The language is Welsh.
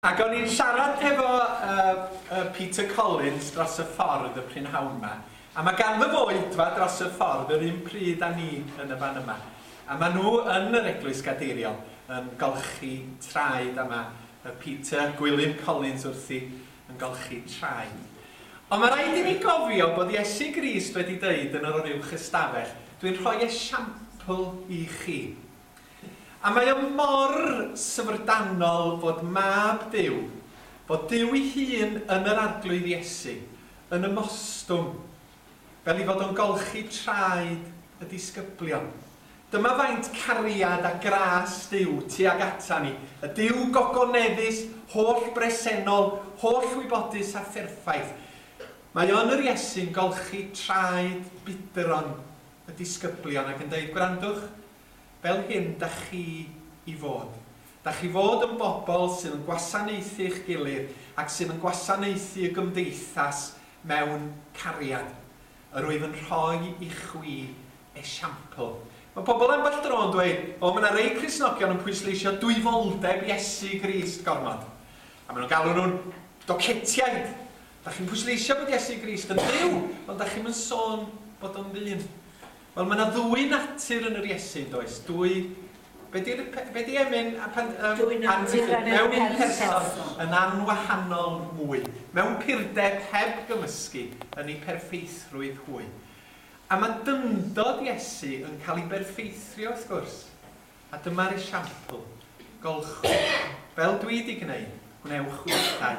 Ac o'n i'n siarad hefo yy yy Peter Collins dros y ffordd y prynhawn 'ma, a ma' ganddo fo oedfa dros y ffordd yr un pryd â ni yn y fan yma, a ma' nhw yn yr Eglwys Gadeiriol yn golchi traed, a ma' yy Peter, Gwilym Collins wrthi, yn golchi traed. Ond ma' raid i ni gofio bod Iesu Grist wedi deud yn yr Oruwch Ystafell, Dwi'n rhoi esiampl i chi. A mae o mor syfrdanol fod Mab Duw, fod Duw ei hun yn yr Arglwydd Iesu, yn ymostwng, fel 'i fod o'n golchi traed y disgyblion. Dyma faint cariad a gras Duw tuag ata ni, y Duw gogoneddus, holl-bresennol, holl-wybodus a pherffaith. Mae o yn yr Iesu'n golchi traed budron y disgyblion ac yn deud, gwrandwch, fel hyn da chi i fod. Da chi fod yn bobl sydd yn gwasanaethu'ch gilydd ac sydd yn gwasanaethu y gymdeithas mewn cariad. Yr wyf yn rhoi i chwi esiampl. Mae pobl ambell dro yn dweud, O, mae yna rei Cristnogion yn pwysleisio dwyfoldeb Iesu Grist gormod. A maen nhw'n galw nhw'n docetiaid. Dach chi'n pwysleisio bod Iesu Grist yn Dduw, ond dach chi'm yn sôn bod o'n ddyn. Wel, mae yna ddwy natur yn yr Iesu, yn does? Dwy... Be di, be di emyn a pan... Um, dwy natur yn yr un person. Yn anwahanol mwy. Mewn purdeb heb gymysgu yn ei perffeithrwydd hwy. A mae dyndod Iesu yn cael ei berffeithrio, wrth gwrs. A dyma'r esiampl. Golchwyd. Fel dwi di gwneud, gwnewch wythau.